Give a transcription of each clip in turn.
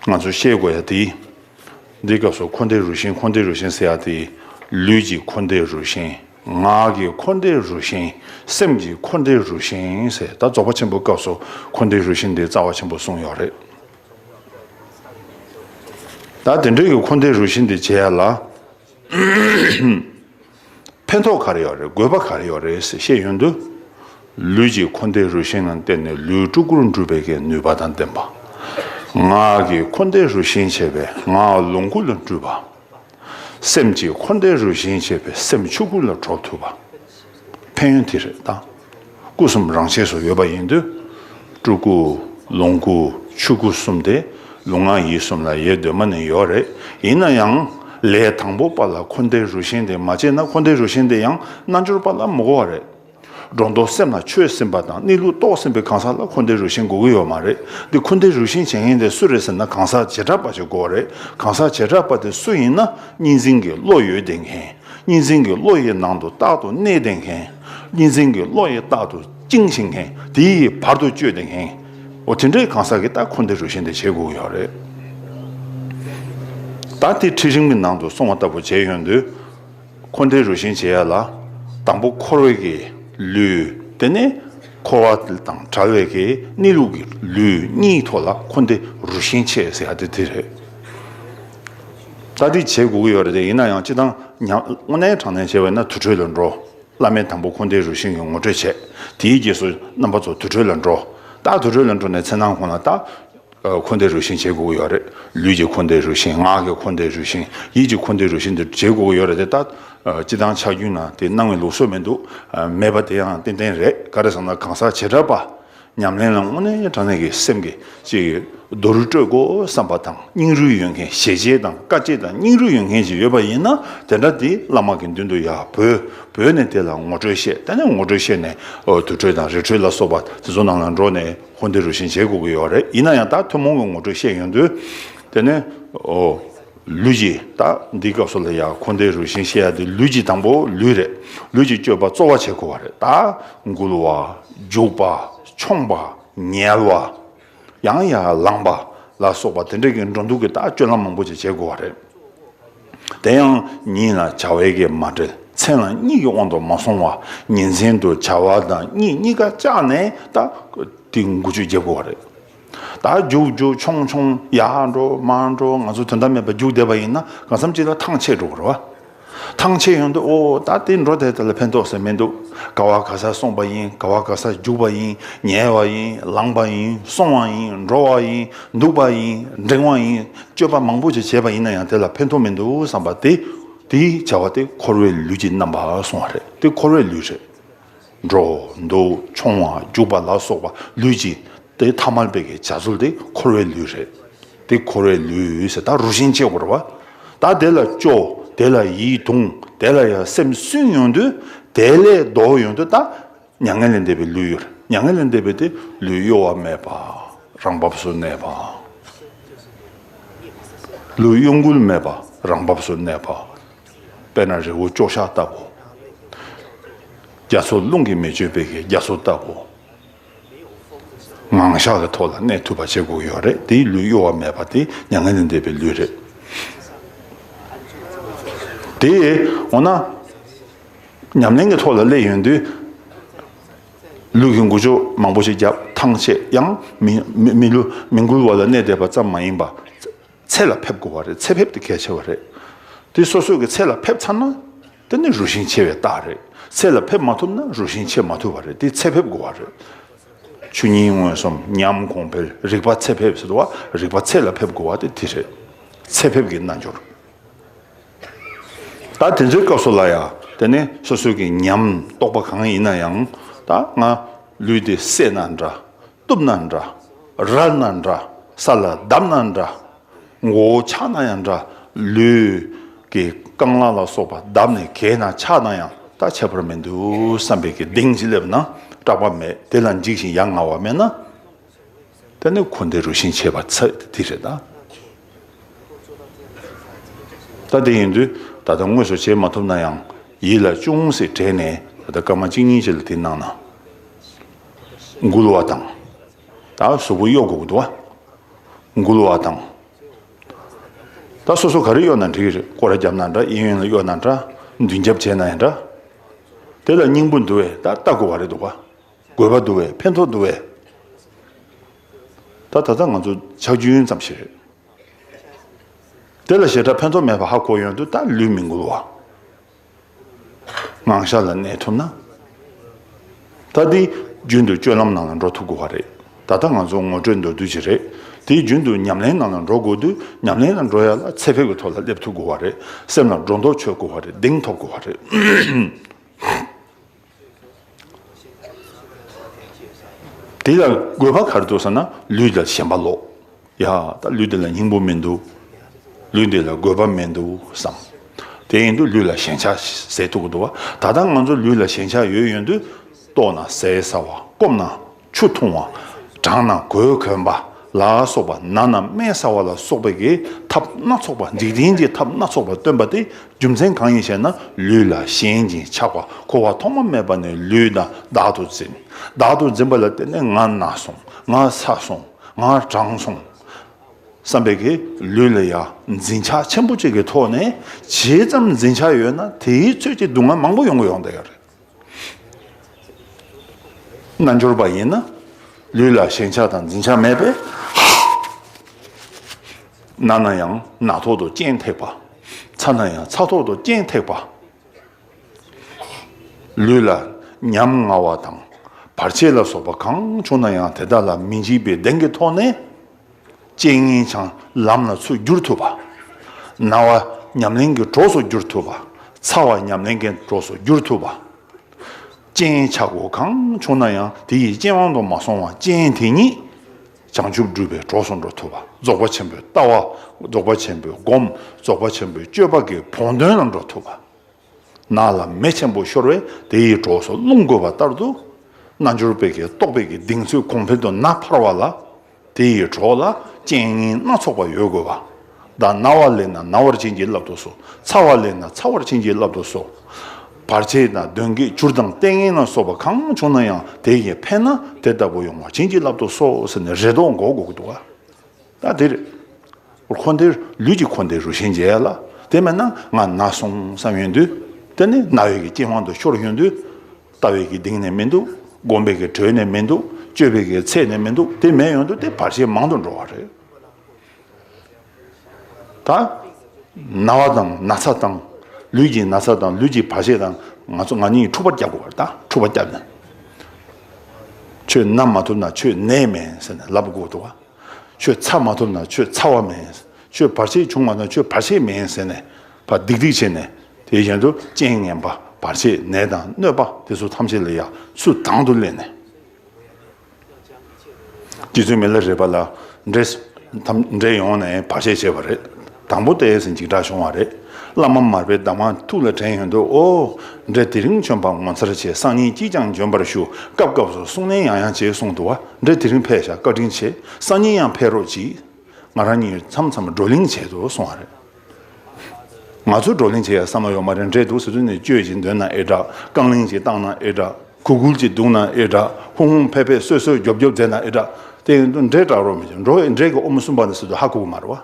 ང་ཚོས་ཤེས་དགོས་ཡ་དེ། འདིའི་སྐབས་སུ་འཁོར་འདས་རུ་ཤན་འཁོར་འདས་རུ་ཤན་ཟེར་ཡ་དེ། ལུས་ཀྱི་འཁོར་འདས་རུ་ཤན། ངག་གི་འཁོར་འདས་རུ་ཤན། སེམས་ཀྱི་འཁོར་འདས་རུ་ཤན་ཟེར་ད་རྫོགས་པ་ཆེན་པོའི་སྐབས་སུ་འཁོར་འདས་རུ་ཤན་དེ་རྩ་བ་ཆེན་པོ་གསུངས་ཡོད་རེད། ད་དེ་འདྲས་ཀྱི་འཁོར་འདས་རུ་ཤན་དེ་བྱས་ཡ་ལ། ཕན་ཐོགས་ག་རེ་ཡོད་རེད་དགོས་པ་ག་རེ་ཡོད་རེད་ཟེར་བཤད་ཡོད་དུས། ལུས་ཀྱི་འཁོར་འདས་རུ་ཤན་ལ་བརྟེན་ནས་ལུས་སྤྲུལ་སྐུར་འགྲུབ་པའི་ཀའི་ནུས་པ་དང་ལྡན་པ། ངག་གི་འཁོར་འདས་རུ་ཤན་བྱས་པས་ངག་ལོངས་སྐུ་ལ་འགྲུབ་པ། སེམས་ཀྱི་འཁོར་འདས་རུ་ཤན་བྱས་པས་སེམས་ཆོས་སྐུ་ལ་གྲོགས་ཐུབ་པ། ཕན་ཡོན་དེ་རེད་ད། སྐུ་གསུམ་རང་ཆས་སུ་ཡོད་པ་ཡིན་དུས། སྤྲུལ་སྐུ། ལོངས་སྐུ། ཆོས་སྐུ་གསུམ་དེ། ལུས་ངག་ཡིད་གསུམ་ལ་ཡོད་འདོད་མ་ནི་ཡོད་རེད། ཡིན་ན་ཡང། ལས་དང་པོ་པ་ལ་འཁོར་འདས་རུ་ཤན་དེ་མ་བྱས་ན་འཁོར་འདས་རུ་ཤན་དེ་ཡང་རྣལ་འབྱོར་པ་ལ་མི་གོ་བ་རེད། སྒྲོ་འདོགས་སེམས་ལ་ཆོས་སེམས་པ་དང་གནས་ལུགས་རྟོགས་སེམས་པའི་གང་ཟག་ལ་འཁོར་འདས་རུ་ཤན་གོ་གི་ཡོད་མ་རེད། འདི་འཁོར་འདས་རུ་ཤན་བྱེད་མཁན་དེ་སུ་རེད་ཟེར་ན་གང་ཟག་བྱེ་བྲག་པ་ཞིག་གོ་རེད། གང་ཟག་བྱེ་བྲག་པ་དེ་སུ་ཡིན་ན་གཉིས་འཛིན་གྱི་བློ་ཡོད་བསྡད་མཁན། གཉིས་འཛིན་གྱི་བློ་ཡི་ནང་དུ་རྟག་ཏུ་གནས་བདེ་མཁན། གཉིས་འཛིན་གྱི་བློ་ཡིས་རྟག་ཏུ་བཅིངས་ཤིང་མཁན་དེ་ཡིས་བར་དུ་གཅོད་བདེ་མཁན། འོ་དེ་འདྲའི་གང་ཟག་གིས་ད་ཁོ་འདི་རུ་བཞེངས་ཏེ་བྱེད་དགོས་ཀྱི་རེད། ད་དེ་ཁྲི་རིང་མོའི་ནང་དུ་སོང་བ་ལྟ་བུ་བྱས་ཡོང་དུས། ཁོ་འདི་རུ་བཞེངས་བྱེད་ཡ་ལ། དང་པོ་འཁོར་བའི་གི་ལུས། དེ་ནས་འཁོར་བ་དང་བྲལ་བའི་གི་གནས་ལུགས་ཀྱི་ལུས་གཉིས་ཐོག་ལ་ཁོ་འདི་རུ་བཞེངས་བྱེད་ཟེར་ཡ་དེ་དེ་རེད། ལྟ་སྒྲིག་བྱེད་དགོས་ཀྱི་ཡོད་རེད་ཡིན་ན་ཡང་སྤྱི་བཏང་སྔོ་ནན་གྲང་ནན་བྱས་པས་ན་དུར་ཁྲོད་ལ་འགྲོ། བླ་མའི་དང་པོ་འཁོར་འདས་རུ་ཤིང་གི་ངོ་སྤྲོད་བྱས། དེའི་རྗེས་སུ་རྣམ་པ་ཚོ་དུར་ཁྲོད་ལ་འགྲོ། རྟག་དུར་ཁྲོད་ལ་འགྲོ་ནས་ཚེ་ནང་ཁོང་ལ་རྟག། འཁོར་འདས་རུ་ཤིང་བྱེད་དགོས་ཀྱི་ཡོད་རེད། ལུས་ཀྱི་འཁོར་འདས་རུ་ཤིང་ངག་གི་འཁོར་འདས་རུ་ཤིང་ཡིད་ཀྱི་འཁོར་འདས་རུ་ཤིང་དེ་བྱེད་དགོས་ཀྱི་ཡོད་རེད་དེ་ལྟ། སྤྱི་བཏང་ཆགས་རྒྱུན་ན་དེ་སྣང་བའི་ལུགས་སྲོལ་མི་འདུག། མེད་པ་དེ་ཡང་ཏན་ཏན་རེད་ག་རེ་བསམ་ན་གང་ཟག་བྱེ་བྲག་པ། ཉམས་ལེན་ལ་དངོས་གནས་དྲང་གནས་ཀྱི་སེམས་ཀྱིས་ཅི་རྡོ་རུས་སྤྲོད་དགོས་བསམ་པ་དང་སྙིང་རུས་ཡོད་མཁན་ཞལ་ལྕེ་དང་དཀའ་སྤྱད་དང་སྙིང་རུས་ཡོད་མཁན་ཞིག་ཡོད་པ་ཡིན་ན་དེ་འདྲ་དེ་བླ་མ་གི་མདུན་དུ་ཡར་བོས་བོས་ནས་དེ་ལ་ངོ་སྤྲོད་བཤད་དེ་ནས་ངོ་སྤྲོད་བཤད་ནས་དུར་ཁྲོད་དང་རི་ཁྲོད་ལ་སོགས་པ་དེ་ཚོ་ནང་ལ་འགྲོ་ནས་འཁོར་འདས་རུ་ཤན་འབྱེད་དགོས་ཀྱི་ཡོད་རེད་ཡིན་ན་ཡང་ད་ཐུན་མོང་གི་ངོ་སྤྲོད་བཤད་ཡོང་དུས་དེ་ནས་ལུས་ཀྱི། ད་འདི་སྐབས་སུ་ལ་ཡ་འཁོར་འདས་རུ་ཤིང་ཤེས་ཡ་འདི་ལུས་ཀྱི་དང་པོ་ལུས་རེད། ལུས་ཀྱི་སྤྱོད་པ་རྩོལ་བ་བྱེད་དགོས་བ་རེད་ད། འགུལ་བ། རྒྱུག་པ། མཆོངས་པ། ཉལ་བ། ཡང་ཡང་ལངས་པ། ལ་སོགས་པ་དེ་འདྲ་གི་འགྲོ་འདུག་གི་ད་སྤྱོད་ལམ་མང་པོ་ཅིག་བྱེད་དགོས་བ་རེད། དེ་ཡང་ཉིན་ལ་བྱ་བའི་གེགས་མ་འབྲེལ་མཚན་ལ་གཉིད་ཀྱི་དབང་དུ་མ་སོང་བ་ཉིན་མཚན་དུ་བྱ་བ་དང་གཉིད་གཉིས་ཀ་བཅག་ནས་ད། འདི་འགུལ་སྤྱོད་བརྒྱབ་དགོས་བ་རེད། ད་རྒྱུག་རྒྱུག་མཆོང་མཆོང་ཡ་འགྲོ་མ་འགྲོ་ང་ཚོ་དོན་དམ་མེད་པར་རྒྱུག་བསྡད་པ་ཡིན་ན་གང་བསམ་གཅིག་ལ་ཐང་ཆད་འགྲོ་གི་རེད་བ། ཐང་ཆད་ཡོང་དུས་ཨོ་ད་དེ་འགྲོ་བསྡད་དེ་ལ་ཕན་ཐོགས་ཟེར་མི་འདུག་ག་བ་ག་སར་སོང་བ་ཡིན་ག་བ་ག་སར་རྒྱུག་པ་ཡིན་ཉལ་བ་ཡིན་ལངས་པ་ཡིན་སོང་བ་ཡིན་འགྲོ་བ་ཡིན་འདུག་པ་ཡིན་འགྲེང་བ་ཡིན་སྤྱོད་པ་མང་པོ་ཞིག་བྱས་པ་ཡིན་ན་ཡང་དེ་ལ་ཕན་ཐོགས་མི་འདུག་བསམ་པ་དེ་དེའི་བྱ་བ་དེ་འཁོར་བའི་ལུས་ཀྱི་རྣམ་པར་སོང་བ་རེད་དེ་འཁོར་བའི་ལུས་རེད། འགྲོ། འདུག་མཆོང་བ་རྒྱུག་པ་ལ་སོགས་པ་ལུས་ཀྱི། དེ་ཐ་མལ་པའི་བྱ་རྩོལ་དེ་འཁོར་བའི་ལུས་རེད། དེ་འཁོར་བའི་ལུས་ཟེར་ད་རུ་ཤིང་གཅེས་བོར་བ། ད་དེ་ལ་སྐྱོ། དེ་ལ་ཡིད་དུང། དེ་ལ་ཡང་སེམས་སུན་ཡོང་དུས། དེ་ལས་ལྡོག་ཡོང་དུས་ད། མྱ་ངན་ལས་འདས་པའི་ལུས་གཡོ་རེད། མྱ་ངན་ལས་འདས་པའི་དེ་ལུས་གཡོ་བ་མེད་པ། རང་བབས་སུ་གནས་པ། ལུས་གཡོ་འགུལ་མེད་པ་རང་བབས་སུ་གནས་པ། དཔེར་ན་རི་བོ་ཅོག་གཞག་ལྟ་བུ། རྒྱ་མཚོ་རླུང་གིས་མི་གཅོད་པའི་རྒྱ་མཚོ་ལྟ་བུ། ངང་གཞག་གི་ཐོག་ལ་གནས་ཐུབ་པ་བྱེད་དགོས་ཀྱི་ཡོད་རེད་དེའི་ལུས་གཡོ་བ་མེད་པ་དེ་མྱ་ངན་ལས་འདས་པའི་ལུས་རེད། དེས་འོ་ན། ཉམས་ལེན་གྱི་ཐོག་ལ་སླེབས་ཡོང་དུས། ལུས་ཀྱི་འགུལ་ཕྱོགས་མང་པོ་ཞིག་བརྒྱབ་ཐང་ཆད་ཡང་མི་འགུལ་བ་ལ་གནས་བསྡད་པ་ཙམ་མ་ཡིན་པ། ཚད་ལ་ཕེབས་དགོས་པ་རེད་ཚད་ཕེབས་དེ་གལ་ཆེ་བ་རེད། དེ་སོ་སོ་གི་ཚད་ལ་ཕེབས་ཚར་ན། དེ་ནི་རུ་ཤིང་ཆེ་བའི་རྟགས་རེད། ཚད་ལ་ཕེབས་མ་ཐུབ་ན་རུ་ཤིང་ཆེ་མ་ཐུབ་པ་རེད་དེ་ཚད་ཕེབས་དགོས་བ་རེད། ཆུ་གཉིས་མངོན་སུམ་མཉམ་གོང་འཕེལ་རིག་པ་ཚད་ཕེབས་ཟེར་བ་རིག་པ་ཚད་ལ་ཕེབས་དགོས་བ་དེ་དེ་རེད། ཚད་ཕེབས་ཀྱི་རྣལ་འབྱོར། ད་དེ་ཚོའི་སྐབས་སུ་ལ་ཡང་དེ་ནི་སོ་སོ་གི་ཉམས་རྟོགས་པ་གང་ཡིན་ན་ཡང་ད་ང་ལུས་འདི་བསད་ན་འདྲ་གཏུབ་ན་འདྲ། རལ་ན་འདྲ། ས་ལ་བརྡབ་ན་འདྲ། མགོ་བོ་ཆག་ན་ཡང་འདྲ། ལུས་ཀྱི་རྐང་ལག་ལ་སོགས་པ་བརྡབ་ནས་གས་ན་ཆག་ན་ཡང་ད་ཆད་པར་མི་འདུག་བསམ་པའི་གྱི་གདེངས་ཀྱིས་སླེབས་ན་སྐྲག་པ་མེད་དེ་ལ་འཇིགས་ཤིང་ཡ་ང་བ་མེད་ན། དེ་ནི་འཁོར་འདས་རུ་ཤིང་ཆད་པ་ཚད་དེ་རེད་ད། ད་དེ་ཡིན་དུས་ད་ལྟ་དངོས་སུ་བྱེད་མ་ཐུབ་ན་ཡང་ཡིད་ལ་ཅུང་ཟད་དྲན་ནས་ད་ལྟ་སྐར་མ་གཅིག་གཉིས་ཅིག་ལ་དེ་གནང་ན། འགུལ་བ་དང། ད་གཟུགས་པོ་གཡོག་གོག་དུ་བ། འགུལ་བ་དང། ད་སོ་སོ་ག་རེ་གཡོག་ན་འགྲིག་རེད་སྐོར་རྒྱབ་ན་འདྲ་གཡས་གཡོན་ལ་གཡོག་ན་འདྲ་མདུན་རྒྱབ་བྱས་ན་ཡང་འདྲ། དེ་ལ་སྙིང་པོ་འདུ་བས་ད་ལྟ་དགོས་བ་རེད་འདུག་ག་དགོས་པ་འདུ་བས་ཕན་ཐོག་འདུ་བས། ད་ད་ལྟ་ང་ཚོ་ཆག་རྒྱུན་ཙམ་ཞིག་རེད། དེ་ལ་ཞེ་དྲག་ཕན་ཐོག་མེད་པ་ཧ་གོ་ཡོང་དུས་ད་ལུས་མི་འགུལ་བ། ངང་ཤར་ལ་གནས་ཐུབ་ན། ད་དེ་རྒྱུན་དུ་སྤྱོད་ལམ་ནང་ལ་འགྲོ་ཐུབ་དགོས་བ་རེད། ད་ལྟ་ང་ཚོ་ངོ་སྤྲོད་མདོར་བསྡུས་ཅིག་རེད། དེ་རྒྱུན་དུ་ཉམས་ལེན་ནང་ལ་འགྲོ་དགོས་དུས་ཉམས་ལེན་ལ་འགྲོ་ཡ་ལ་ཚད་ཕེབས་ཀྱི་ཐོག་ལ་སླེབས་ཐུབ་དགོས་བ་རེད། སེམས་ལ་སྒྲོ་འདོགས་ཆོད་དགོས་བ་རེད་གདེང་ཐོབ་དགོས་བ་རེད། དེ་ལ་དགོས་པ་གར་འདུག་ཟེར་ན་ལུས་དང་ཞེན་པ་ལོག། ཡ། ད་ལུས་འདི་ལ་སྙིང་པོ་མི་འདུག། ལུས་འདི་ལ་དགོས་པ་མི་འདུག་བསམ། དེ་ཡིན་དུས་ལུས་ལ་ཞེན་ཆགས་ཟད་ཐུག་གི་འདུག་བ། ད་ལྟ་ང་ཚོ་ལུས་ལ་ཞེན་ཆགས་ཡོད་ཡོད་འདུག། ལྟོགས་ན་ཟས་ཟ་བ། སྐོམ་ན་ཆུ་འཐུང་བ། གྲང་ན་གོས་གོན་པ་ལ་སོགས་པ་ན་ན་སྨན་ཟ་བ་ལ་སོགས་པའི་གི་ཐབས་སྣ་ཚོགས་པ་འཇིག་རྟེན་གྱི་ཐབས་སྣ་ཚོགས་པ་སྟོན་པ་སྟེ་རྒྱུ་མཚན་གང་ཡིན་ཞེ་ན་ལུས་ལ་ཞེན་ཅིང་ཆགས་པ་འཁོར་བ་ཐོག་མ་མེད་པ་ནས་ལུས་དང་བདག་ཏུ་འཛིན། བདག་ཏུ་འཛིན་པ་ལ་བརྟེན་ནས་ང་ན་སོང་ང་ཚ་སོང་ང་གྲང་སོང་བསམ་པའི་གི་ལུས་ལ་ཡང་འཛིན་ཆགས་ཆེན་པོ་གཅིག་གི་ཐོག་ནས་ཇི་ཙམ་འཛིན་ཆགས་ཡོད་ན་དེའི་ཚོད་ཀྱི་སྡུག་བསྔལ་མང་པོ་ཡོང་གི་ཡོང་དེ་ཡོད་རེད། རྣལ་འབྱོར་པ་ཡིན་ན་ལུས་ལ་ཞེན་ཆགས་དང་འཛིན་ཆགས་མེད་པས་རྣ་ན་ཡང་རྣ་ཐོག་ཏུ་སྤྱན་ཐེག་པ། ཚ་ན་ཡང་ཚ་ཐོག་ཏུ་སྤྱན་ཐེག་པ། ལུས་ལ་ཉམ་ང་བ་དང་བར་ཆད་ལ་སོགས་པ་གང་བྱུང་ན་ཡང་དེ་དག་ལ་མི་འཇིགས་པའི་གདེང་གི་ཐོག་ནས། ཅན་སྙིང་བྱང་ལམ་ལ་ཚུར་བསྒྱུར་ཐུབ་པ། ན་བ་ཉམས་ལེན་གྱི་གྲོགས་སུ་བསྒྱུར་ཐུབ་པ། ཚ་བ་ཉམས་ལེན་གྱི་གྲོགས་སུ་བསྒྱུར་ཐུབ་པ། ཅན་ཆག་སྒོ་གང་བྱུང་ན་ཡང་དེ་ཡི་རྐྱེན་དབང་དུ་མ་སོང་བར་ཅན་དེ་ཉིད་བྱང་ཆུབ་སྒྲུབ་པའི་གྲོགས་སུ་འགྲོ་ཐུབ་པ། རྫོགས་པ་ཆེན་པོའི་ལྟ་བ། རྫོགས་པ་ཆེན་པོའི་སྒོམ། རྫོགས་པ་ཆེན་པོའི་སྤྱོད་པ་གི་བོགས་འདོན་ལ་འགྲོ་ཐུབ་པ། ནགས་ལ་མེ་ཆེན་པོ་ཤོར་བས་དེ་ཡི་གྲོགས་སུ་རླུང་རྒོད་པ་ལྟར་དུ། རྣལ་འབྱོར་པས་ཀྱི་རྟོག་པས་ཀྱི་གདེང་ཚོད་གོང་འཕེལ་དུ་ན་འཕར་བ་ལ། དེ་ཡི་གྲོགས་ལ་རྐྱེན་ངན་སྣ་ཚོགས་པ་ཡོད་དགོས་པ། བདག་ན་བ་ལས་ན་ན་བར་བྱིན་གྱིས་བརླབ་ཏུ་གསོལ། ཚ་བ་ལས་ན་ཚ་བར་བྱིན་གྱིས་བརླབ་ཏུ་གསོལ། བར་ཆད་དང་གདོན་བགེགས་བྱུར་དང་ལྟས་ངན་ལ་སོགས་པ་གང་བྱུང་ན་ཡང་དེ་ཡི་ཕན་ན་དེ་ལྟ་བུ་ཡོང་བར་བྱིན་གྱིས་བརླབ་ཏུ་གསོལ་ཟེར་ནས་རེ་དོགས་འགོག་དགོས་ཀྱི་འདུག། ད་དེར། འཁོར་འདས་ལུས་ཀྱི་འཁོར་འདས་རུ་ཤན་འབྱེད་ལ། དེ་མེད་ན་ང་ན་སོང་བསམ་ཡོད་དུས། དེ་ནི་རྣ་བའི་རྐྱེན་དབང་དུ་ཤོར་ཡོད་དུས། ལྟ་བའི་གདིང་ནས་མི་འདུག་སྒོམ་པའི་གྲོས་ནས་མི་འདུག་སྤྱོད་པའི་ཚད་ནས་མི་འདུག་དེ་མེད་ཡོང་དུས་དེ་བར་ཆད་མང་དུ་འགྲོ་བ་རེད། ད། ན་བ་དང་ན་ཚ་དང། ལུས་ཀྱི་ན་ཚ་དང་ལུས་ཀྱི་བར་ཆད་དང་ང་ཚོ་ང་གཉིས་འཁྲུག་པར་བསྐྱལ་དགོས་པར་ད་འཁྲུག་པར་བསྐྱལ་ནས། ཆོས་རྣམས་མ་ཐུབ་ན་ཆོས་གནས་མེད་ཟེར་ནས་ལབ་དགོས་འདུག་བ། ཁྱོད་ཚར་མ་ཐུབ་ན་ཁྱོད་ཚར་བ་མིན། ཁྱོད་བར་ཆད་བྱུང་བ་ན་ཁྱོད་བར་ཆད་མིན་ཟེར་ནས་བ་རྡིག་རྡིག་བྱས་ནས་དེ་བཞིན་དུ་རྐྱེན་ངན་པ་བར་ཆད་ནད་དང་གནོད་པ་དེ་ཚོ་ཐམས་ཅད་ལ་ཡང་སུ་དང་དུ་སླེབས་ནས། དེ་ཚོའི་མི་ལ་རས་པ་ལ་འདྲེས་ཡོང་ནས་བར་ཆད་བྱས་པ་རེད། དང་པོ་དེས་འཇིགས་སྐྲག་བྱུང་བ་རེད། བླ་མ་མར་པའི་གདམས་ངག་ཐུགས་ལ་དྲན་ཡོད་འདུག་ཨོ། འདྲེ་དེ་རིང་བྱོན་པ་ངོ་མཚར་ཆེ་སང་ཉིན་གྱིས་ཀྱང་འབྱོན་པར་ཞུ་སྐབས་སྐབས་སུ་གསུང་ནན་ཡང་ཡང་བྱེད་གསུང་འདུག་བ་འདྲེ་དེ་རིང་ཕེབས་ཤག་བཀའ་དྲིན་ཆེ་སང་ཉིན་ཡང་ཕེབས་རོགས་གྱིས། ང་རང་ཉིད་མཚམས་མཚམས་བགྲོ་གླེང་བྱེད་དུ་སོང་བ་རེད། ང་ཚོས་བགྲོ་གླེང་བྱེད་ཡ་བསམ་བློ་ཡོད་མ་རེད་འདྲེ་དུག་ཟེར་དུས་ནས་བཅོས་ཅིག་འདོན་ན་ཨེ་དྲག་རྐང་གླིང་ཅིག་བཏང་ན་ཨེ་དྲག་གུ་གུལ་ཅིག་བདུག་ན་ཨེ་དྲག་ཧུང་ཧུང་ཕེ་ཕེ་སོད་སོད་རྒྱོབ་རྒྱོབ་མཛད་ན་ཨེ་དྲག་དེ་ཡིན་དུས་འདྲེ་དྲག་རོགས་མི་བྱེད་འགྲོ་བས་འདྲེ་གི་ཨོ་མོ་གསུམ་པ་ནས་སུ་དུ་ཧ་གོ་གི་མ་རེད་བ།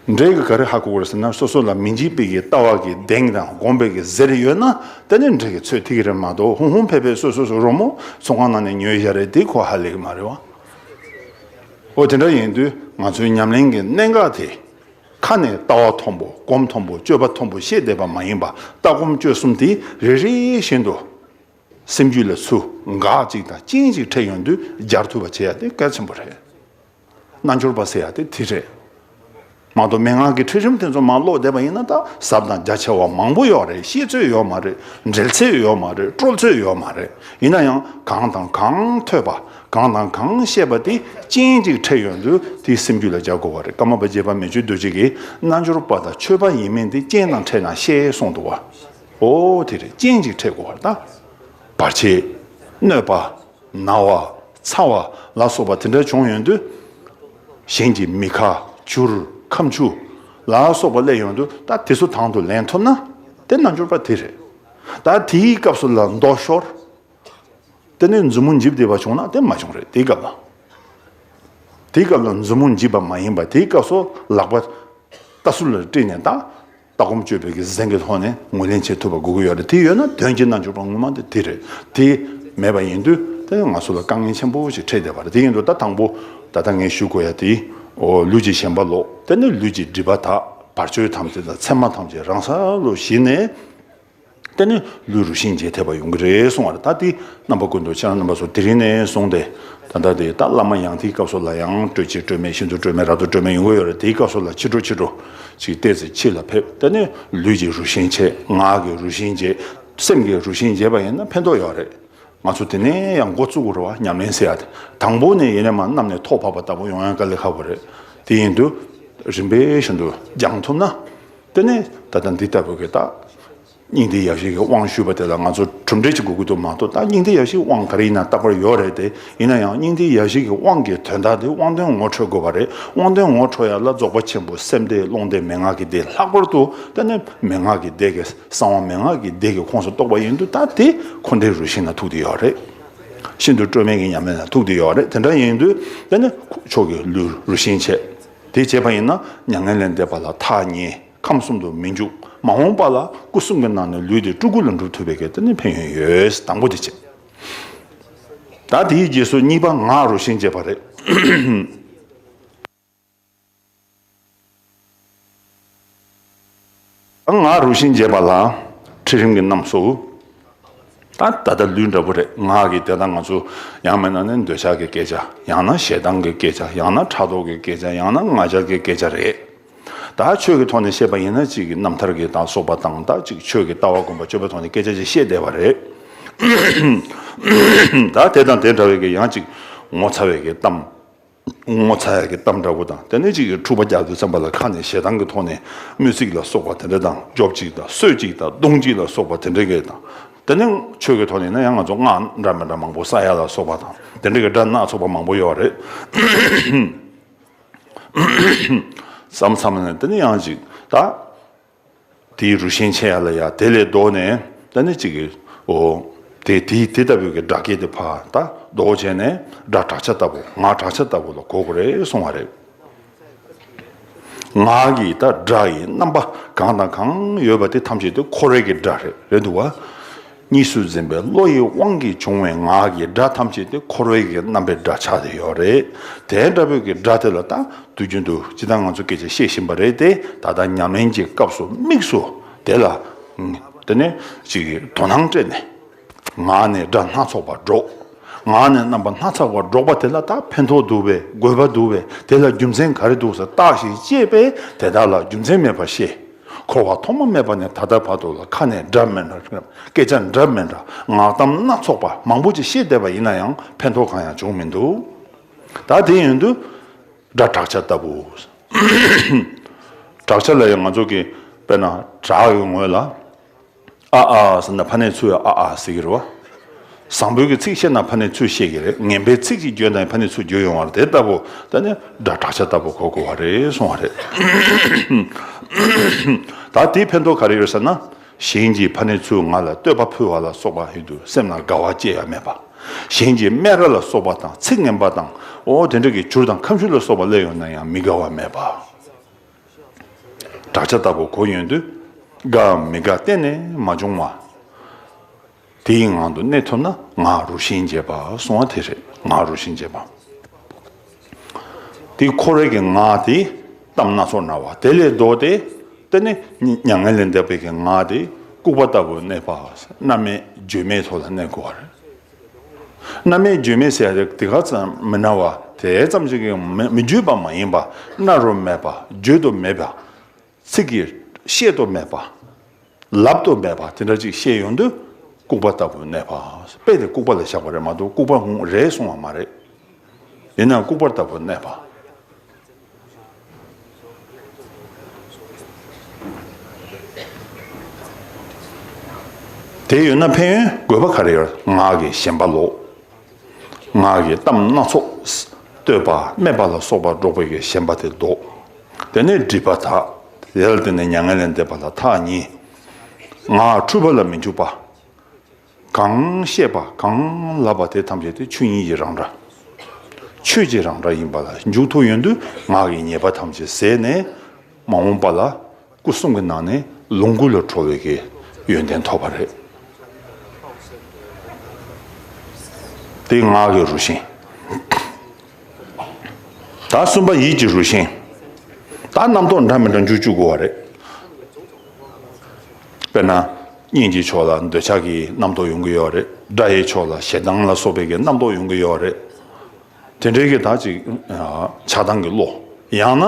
འབྲས་ཀྱི་ག་རེ་ཧ་གོ་དགོས་ཟེར་ན་སོ་སོ་ལ་མི་འཇིགས་པའི་གྱི་ལྟ་བ་གྱི་གདེང་དང་དགོངས་པའི་གྱི་གཟེར་ཡོད་ན་དེ་ནི་འབྲས་ཀྱི་ཚོད་ཐིག་རེད་མ་གཏོགས་ཧུང་ཧུང་ཕེ་ཕེ་སོ་སོ་སོ་རོ་མོ་ཚོང་ཁང་ནང་ནས་ཉོས་བཞག་རེད་དེ་གོ་ཧ་ལེགས་མ་རེད་བ། འོ་དེ་འདྲ་ཡིན་དུས་ང་ཚོའི་ཉམས་ལེན་གྱི་གནད་འགག་དེ། ཁ་ནས་ལྟ་བ་མཐོན་པོ་སྒོམ་མཐོན་པོ་སྤྱོད་པ་མཐོན་པོ་བཤད་བསྡད་པ་མ་ཡིན་པ་ལྟ་སྒོམ་སྤྱོད་གསུམ་དེ་རེ་རེ་བཞིན་དུ། སེམས་རྒྱུད་ལ་ཚུ་འགག་ཅིག་དང་རྐྱེན་ཅིག་འཕྲད་ཡོང་དུས་སྦྱར་ཐུབ་པ་བྱེད་ཡ་དེ་གལ་ཆེན་པོ་རེད། རྣལ་འབྱོར་པ་ཟེར་ཡག་དེ་དེ་རེད། མ་གཏོགས་མན་ངག་གི་ཁྲིད་རིམ་དེ་ཚོ་མ་ཀློག་བསྡད་པ་ཡིན་ན་ད་གཟབ་དང་རྒྱ་ཆེ་བ་མང་པོ་ཡོད་རེད་ཤེས་ཚོད་ཡོད་མ་རེད་འགྲེལ་ཚོད་ཡོད་མ་རེད་དཀྲོལ་ཚོད་ཡོད་མ་རེད་ཡིན་ན་ཡང་གང་དང་གང་ཐོས་པ་གང་དང་གང་ཤེས་པ་དེ་ཅན་གཅིག་ཁྲེལ་ཡོད་འདུག་དེ་སེམས་རྒྱུད་ལ་འཇགས་དགོས་བ་རེད་ཀརྨ་པ་རྗེ་པ་མེ་ཆུ་རྡོ་རྗེ་གི་རྣལ་འབྱོར་པ་དང་ཆོས་པ་ཡིན་མིན་དེ་རྐྱེན་དང་ཕྲད་ན་ཤེས་གསུངས་འདུག་བ་འོ་དེ་རེད་རྐྱེན་གཅིག་ཁྲེལ་དགོས་བ་ད་བར་ཕྱི་གནོད་པ། ན་བ། ཚ་བ། ལ་སོགས་པ་དེ་འདྲ་བྱུང་ཡོང་དུས། གཞན་གྱིས་མི་ཁ། བྱུར། ཁམ་ཆུ། ལ་སོགས་པ་གླས་ཡོང་དུས་ད་དེ་ཚོ་དང་དུ་ལེན་ཐུབ་ན། དེ་རྣལ་འབྱོར་པ་དེ་རེད། ད་དེའི་སྐབས་སུ་ལ་མདོག་ཤོར། དེ་ནས་མཛུབ་མོ་འཇིབ་བསྡད་པ་བྱུང་ན་དེ་མ་བྱུང་རེད་དེའི་སྐབས་ལ། དེའི་སྐབས་ལ་མཛུབ་མོ་འཇིབ་པ་མ་ཡིན་པ་དེའི་སྐབས་སུ་ལག་པ། ལྟ་ཚུལ་ལ་དཀྲིས་ནས་ད། ལྟ་སྒོམ་སྤྱོད་པའི་གཟེངས་ཀྱི་ཐོག་ནས་ངོས་ལེན་བྱེད་ཐུབ་པ་དགོས་ཀྱི་ཡོད་རེད་དེ་ཡོད་ན་དོན་གྱི་རྣལ་འབྱོར་པ་དངོས་མ་དེ་དེ་རེད་དེ་མེད་པ་ཡིན་དུས་ད་ནི་ང་ཚོ་ལ་དཀའ་ངལ་ཆེན་པོ་ཞིག་འཕྲད་བསྡད་པ་རེད་དེ་ཡིན་དུས་ད་དང་པོ་ད་ལྟ་ངས་ཞུ་དགོས་ཡ་དེ་ལུས་ཀྱི་ཞེན་པ་ལོག་དེ་ནས་ལུས་ཀྱི་སྒྲིབ་པ་དག་བར་གཅོད་ཐམས་ཅད་དང་མཚན་མ་ཐམས་ཅད་རང་ས་ལོ་བཞི་ནས། དེ་ནི་ལུས་རུ་ཤིང་རྗེས་ཐེབས་པ་ཡོང་གི་རེད་གསུང་བར་ད་དེའི་རྣམ་པ་ཀུན་ཏུ་ཁྱེད་རང་རྣམ་པ་ཚོ་དེ་རིང་ནས་བཟུང་སྟེ་ད་ལྟ་དེ་ད་བླ་མ་ཡང་དེའི་སྐབས་སུ་ལ་ཡང་སྤྲོད་ཆེ་སྤྲོད་མེད་ཤིན་ཏུ་སྤྲོད་མེད་རབ་ཏུ་སྤྲོད་མེད་ཡོང་གི་ཡོད་རེད་དེའི་སྐབས་སུ་ལ་ཕྱི་དྲོ་ཕྱི་དྲོ་ཅིག་བལྟས་ཚེ་ཕྱི་ལ་ཕེབས་དེ་ནི་ལུས་ཀྱི་རུ་ཤིང་རྗེས་ངག་གི་རུ་ཤིང་རྗེས་སེམས་ཀྱི་རུ་ཤིང་རྗེས་པ་ཡིན་ན་ཕན་ཐོགས་ཡོད་རེད་ང་ཚོ་དེ་ནས་ཡང་འགོ་བཙུགས་རོགས་ཉམས་ལེན་ཟེར་ཡ་དེ་དང་པོ་ནས་ཡེ་ནས་མ་བསྣམས་ནས་ཐོག་བབས་པ་ལྟ་བུ་ཡོང་ཡང་དཀའ་ལས་ཁག་པོ་རེད་དེ་ཡིན་དུས་རིམ་པས་ཤིན་ཏུ་སྦྱང་ཐུབ་ན། དེ་ནས་ད་ལྟ་འདི་ལྟ་བུ་གི་ད། སྙིང་ཐིག་ཡག་ཤོས་ཀྱི་དབང་ཞུས་པ་དེ་ལ་ང་ཚོ་གྲུབ་འབྲས་ཅིག་དགོས་ཀྱི་འདུག་མ་གཏོགས་ད་སྙིང་ཐིག་ཡག་ཤོས་དབང་ག་རེ་ཡིན་ན་རྟག་པར་ཡོད་རེད་དེ་ཡིན་ན་ཡང་སྙིང་ཐིག་ཡག་ཤོས་ཀྱི་དབང་གི་དོན་དག་དེ་དབང་དོན་ངོ་འཕྲོད་དགོས་པ་རེད་དབང་དོན་ངོ་འཕྲོད་ཡག་ལ་རྫོགས་པ་ཆེན་པོ་སེམས་སྡེ་ཀློང་སྡེ་མན་ངག་གི་སྡེ་ལྷག་པར་དུ་ད་ནི་མན་ངག་གི་སྡེ་གི་གསང་བ་མན་ངག་གི་སྡེ་གི་ཁོངས་སུ་གཏོགས་པ་ཡིན་དུ་ད་དེ་འཁོར་འདས་རུ་ཤིང་ན་ཐུག་དེ་ཡོད་རེད། ཤིན་ཏུ་སྤྲོས་མེད་ཀྱི་མཉམ་མེད་ན་ཐུག་དེ་ཡོད་རེད་དེ་འདྲ་ཡིན་དུས་ད་ནི་མཆོག་གི་ལུས་རུ་ཤིང་ཆེ། དེ་བྱས་པ་ཡིན་ན་མྱ་ངན་ལས་འདས་པ་ལ་ཐ་སྙད་ཁམས་གསུམ་དུ་མི་འཇུག་མ་འོངས་པ་ལ་སྐུ་གསུམ་གྱི་ནང་ནས་ལུས་དེ་སྤྲུལ་སྐུ་ལ་འགྲུབ་ཐུབ་པའི་གལ་ཏེ་ནི་ཕན་ཡོན་ཡོད་དང་པོ་དེ་བྱས། ད་དེའི་རྗེས་སུ་གཉིས་པ་ངག་རུ་ཤན་འབྱེད་པ་རེད། ང་རུ་ཤིང་འབྱེད་པ་ལ་ཁྲིད་རིམ་གྱི་རྣམས་སུ། ད་ད་ལྟ་ལུས་འདྲ་པོ་རེད་ངག་གིས་དེ་དག་ང་ཚོ་ཡང་མེད་ན་ནི་འདོད་ཆགས་ཀྱི་སྐད་ཆ་ཡང་ན་ཞེ་སྡང་གི་སྐད་ཆ་ཡང་ན་ཕྲག་དོག་གི་སྐད་ཆ་ཡང་ན་ང་ཅག་གི་སྐད་ཆ་རེད། ད་ཆོས་ཀྱི་ཐོག་ནས་བཤད་པ་ཡིན་ན་གཅིག་གི་རྣམ་ཐར་གྱི་དག་སོགས་པ་དང་དག་ཅིག་ཆོས་ཀྱི་ལྟ་བ་དགོངས་པ་སྤྱོད་པའི་ཐོག་ནས་སྐད་ཆ་ཅིག་བཤད་བསྡད་པ་རེད། ད་དེ་དང་དེ་འདྲ་བའི་གི་ཡང་གཅིག་ངོ་ཚ་བའི་གི་གཏམ། ངོ་ཚ་ཡག་གི་གཏམ་འདྲ་བོ་དང་དེ་ནས་གཅིག་གིས་འཁྲུག་པ་རྒྱག་དུས་བརྩམས་པ་ལ་ཁ་ནས་ཞེ་སྡང་གི་ཐོག་ནས་དམོད་ཚིག་ལ་སོགས་པ་དེ་འདྲ་དང་རྒྱོབ་ཅིག་དང་གསོད་ཅིག་དང་བརྡུང་ཅིག་ལ་སོགས་པ་དེ་འདྲ་གི་དང་དེ་ནས་ཆོས་ཀྱི་ཐོག་ནས་ཡིན་ན་ཡང་ང་ཚོ་སྔགས་འདྲ་མི་འདྲ་མང་པོ་ས་ཡ་ལ་སོགས་པ་དང་དེ་འདྲ་གི་སྒྲ་སྣ་ཚོགས་པ་མང་པོ་ཡོད་བ་རེད་བསམ་བསམ་ནས་དེ་ནས་ཡང་གཅིག་ད། དེའི་རུ་ཤན་ཕྱེད་ཡར་ལ་ཡར་དེ་ལས་ལྡོག་ནས་ད་ནི་གཅིག་གིའོ། དེས་དེའི་དེ་ལྟ་བུའི་གི་སྒྲ་སྐད་དེ་བར་ད་ལྡོག་བྱས་ནས་སྒྲ་བྲག་ཆ་ལྟ་བུ་ངག་བྲག་ཆ་ལྟ་བུ་ལ་གོ་གོ་རེ་སོང་བ་རེད། ངག་གིས་ད་སྒྲ་ཡི་རྣམ་པ་གང་དང་གང་ཡོད་པ་དེ་ཐམས་ཅད་དེ་འཁོར་བའི་གི་སྒྲ་རེད་འདུག་བ། གཉིས་སུ་འཛིན་པའི་བློ་ཡི་དབང་གིས་བྱུང་བའི་ངག་གི་སྒྲ་ཐམས་ཅད་དེ་འཁོར་བའི་གི་རྣམ་པའི་སྒྲ་ཆགས་ཏེ་ཡོད་རེད་དེ་འདྲ་བོའི་གི་སྒྲ་དེ་ལ་ད་དུ་རྒྱུན་དུ་ཇི་ལྟར་ང་ཚོ་སྐད་ཅིག་བཤད་བཞིན་པ་རེད་དེ་ད་ལྟ་ཉམས་ལེན་གྱི་སྐབས་སུ་དམིགས་སུ་དེ་ལ་དེ་ནས་ཅིག་དོ་སྣང་སྤྲད་ནས། ངག་ནས་སྒྲ་སྣ་ཚོགས་པ་སྒྲོག། ངག་ནས་རྣམ་པ་སྣ་ཚགས་པ་སྒྲོག་པ་དེ་ལ་ད་ཕན་ཐོགས་འདུག་པས་དགོས་པ་འདུག་པས་དེ་ལ་རྒྱུ་མཚན་ག་རེ་འདུག་ཟེར་བརྟགས་ཤིང་དཔྱད་པས་དེ་དག་ལ་རྒྱུ་མཚན་མེད་པར་ཤེས། འཁོར་བ་ཐོག་མ་མེད་པ་ནས་ད་ལྟ་བར་དུ་ལ་ཁ་ནས་འདྲ་མིན་འདྲ་སྐད་ཆ་འདྲ་མིན་འདྲ་ངག་གཏམ་སྣ་ཚོགས་པ་མང་པོ་ཅིག་བཤད་བསྡད་པ་ཡིན་ན་ཡང་ཕན་ཐོགས་གང་ཡང་བྱུང་མི་འདུག་ད་དེ་ཡོན་དུ། སྒྲ་བསྒྲགས་བྱ་ལྟ་བུ། བསྒྲགས་བྱ་ལ་ཡང་ང་ཚོ་གིས་དཔེར་ན་བསྒྲགས་ཡོད་ངོས་ལ། ཨ་ཨ་ཟེར་ན་ཕ་ནས་ཚུར་ཨ་ཨ་ཟེར་གྱི་རེད། བཟང་པོའི་གི་ཚིག་བཤད་ན་ཕ་ནས་ཚུར་བཤད་གྱི་རེད། ངན་པའི་ཚིག་ཅིག་བརྗོད་ན་ཡང་ཕ་ནས་ཚུར་བརྗོད་ཡོང་བ་རེད་དེ་ལྟ་བུ་ད་ནི་སྒྲ་གྲགས་ཆ་ལྟ་བུ་གོ་དགོས་བ་རེད་གསུང་བ་རེད། ད་དེའི་ཕན་ཐོགས་ག་རེ་ཡོད་ཟེར་ན། གཞན་གྱིས་ཕ་ནས་ཚུར་ང་ལ་བསྟོད་པ་ཕུལ་བ་ལ་སོགས་པ་ཡོད་དུས་སེམས་ལ་དགའ་བ་ཅི་ཡང་མེད་པ། གཞན་གྱིས་སྨད་ར་ལ་སོགས་པ་དང་ཚིག་ངན་པ་དང་འོ་དེ་འདྲ་གི་བྱུར་དང་ཁམ་ཤུ་ལ་སོགས་པ་གླས་ཡོང་ན་ཡང་མི་དགའ་བ་མེད་པ། བྲག་ཆ་ལྟ་བུ་གོ་ཡོང་དུས་དགའ་འམ་མི་དགའ་གཏན་ནས་མ་འབྱུང་བ། དེའི་ངང་དུ་གནས་ཐུབ་ན་ང་རུ་ཤན་འབྱེད་པ་སོང་བ་དེ་རེད་ང་རུ་ཤན་འབྱེད་པ། དེ་ཁོ་རེ་གི་ང་དེ་གཏམ་སྣ་ཚོགས་ན་བ་དེ་ལས་ལྡོག་སྟེ་དེ་ནི་མྱ་ངན་ལས་འདས་པའི་གི་ང་དེ་ལྐུགས་པ་ལྟ་བུ་གནས་པ་རྣམས་མེད་བརྗོད་མེད་ཐོག་ལ་གནས་དགོས་བ་རེད། རྣམ་མེད་བརྗོད་མེད་ཟད་རེག་དེ་ག་ཙམ་མི་སྣང་བ་དེ་ཙམ་ཞིག་གིས་མི་བརྗོད་པ་མ་ཡིན་པ་སྣ་རུ་མེད་པ་བརྗོད་དུ་མེད་པ། ཚིག་གིས་བཤད་དུ་མེད་པ། ལབ་ཏུ་མེད་པ་དེ་འདྲ་ཅིག་ཤེས་ཡོང་དུས་ལྐུགས་པ་ལྟ་བུ་གནས་པ་དཔེ་དེ་ལྐུགས་པ་ལ་བཞག་པ་རེད་མ་གཏོགས་ལྐུགས་པ་རེད་གསུང་བ་མ་རེད། ཡིན་ནའང་ལྐུགས་པ་ལྟ་བུ་གནས་པ། དེ་ཡོད་ན་ཕན་ཡོན་དགོས་པ་ག་རེ་ཡོད། ངག་གིས་ཞེན་པ་ལོག། ངག་གིས་གཏམ་སྣ་ཚོགས་བསྟོད་པ་སྨད་པ་ལ་སོགས་པ་སྒྲོག་པའི་གིས་ཞེན་པ་དེ་བཟློག། དེ་ནས་སྒྲིབ་པ་དག། དེ་ལ་བརྟེན་ནས་མྱ་ངན་ལས་འདས་པ་ལ་ཐག་ཉེ། ངག་འཁྲུལ་པ་ལ་མི་འཇུག་པ། གང་བཤད་པ་གང་ལབ་པ་དེ་ཐམས་ཅད་དུ་ཆོས་ཉིད་ཀྱི་རང་སྒྲ། ཆོས་ཀྱི་རང་སྒྲ་ཡིན་པ་ལ་མཇུག་ཐོ་ཡོན་དུ་ངག་གི་ཉེས་པ་ཐམས་ཅད་ཟད་ནས་མ་འོངས་པ་ལ་སྐུ་གསུམ་གྱི་ནང་ནས་ལོངས་སྐུ་ལ་གྲོལ་བའི་གི་ཡོན་ཏན་ཐོབ་པ་རེད། དེ་ངག་གི་རུ་ཤན། ད་གསུམ་པ་ཡིད་ཀྱི་རུ་ཤན། ད་རྣམ་རྟོག་འདྲ་མི་འདྲ་མཇུག་བཅུ་དགོས་བ་རེད། དཔེར་ན། གཉེན་གྱི་ཕྱོགས་ལ་འདོད་ཆགས་ཀྱི་རྣམ་རྟོག་ཡོང་གི་ཡོད་རེད། དགྲ་ཡི་ཕྱོགས་ལ་ཞེ་སྡང་ལ་སོགས་པའི་གི་རྣམ་རྟོག་ཡོང་གི་ཡོད་རེད། དེ་འདྲའི་གི་དག་ཅིག་ཆགས་སྡང་གི་བློ། ཡང་ན།